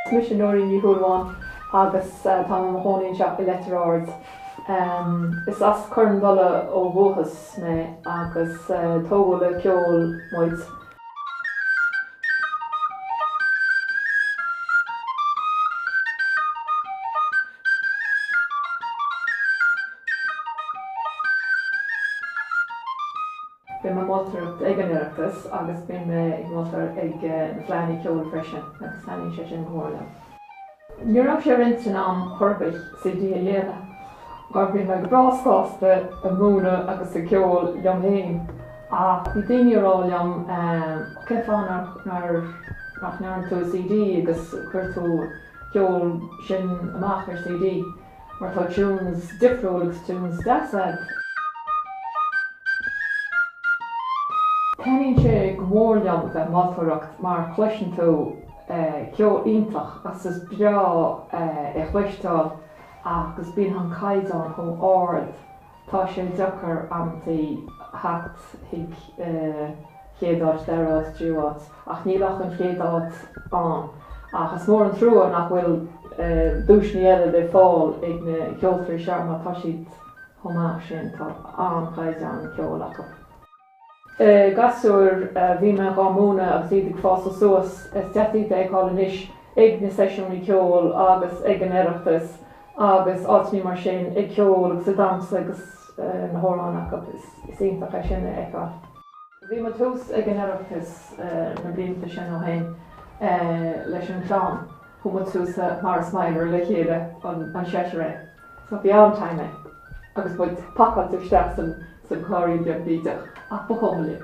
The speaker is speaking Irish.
Is mise Nóirín Ní Shúilleabháin agus táim i mo chónaí anseo i Leitir Ard. Is as Cor an Dola ó dhúchas mé agus tógadh le ceol muid. Bím ag moltóireacht ag an Oireachtas agus bím ag moltóireacht ag na Fleadhanna Ceoil freisin agus taitníonn sé sin go mór liom. Ní raibh sé ar m'intinn a'm chor ar bith CD a dhéanamh mar bhí mé go breá sásta ag múineadh agus ag ceol liom féin ach bhí daoine ag rá liom cén fáth nach ndéanann tú CD agus cuir tú an ceol sin amach ar CD. Mar tá tunes difriúil agus tunes deas agat. Taitníonn sé go mór liom a bheith ag moltóireacht mar cloiseann tú ceol iontach agus is breá é a chloisteáil agus bíonn an caighdeán chomh ard. Tá sé deacair amantaí theacht chuig chéad áit, dara áit, tríú áit, ach níl ach an chéad áit ann. Ach is mór an trua nach bhfuil duaiseannaí eile le fáil ag na ceoltoirí seo mar tá siad chomh maith sin, tá an-chaighdeán ceoil acu. Gasúir a bhí mé dhá múineadh agus iad ag fás suas, is deas iad a fheiceáil anois ag na seisiúnaí ceoil agus ag an Oireachtas agus áiteannaí mar sin, ag ceol agus ag damhsa agus na hamhráin acu. Is iontach é sin a fheiceáil. Bhí muid thuas ag an Oireachtas na blianta sin ó shin leis an gclann. Chuaigh muid suas mar small le chéile, an seisear é. So bhí an t-aonach agus muid pacáilte isteach sa gcairrín beag bídeach ach ba chuma linn.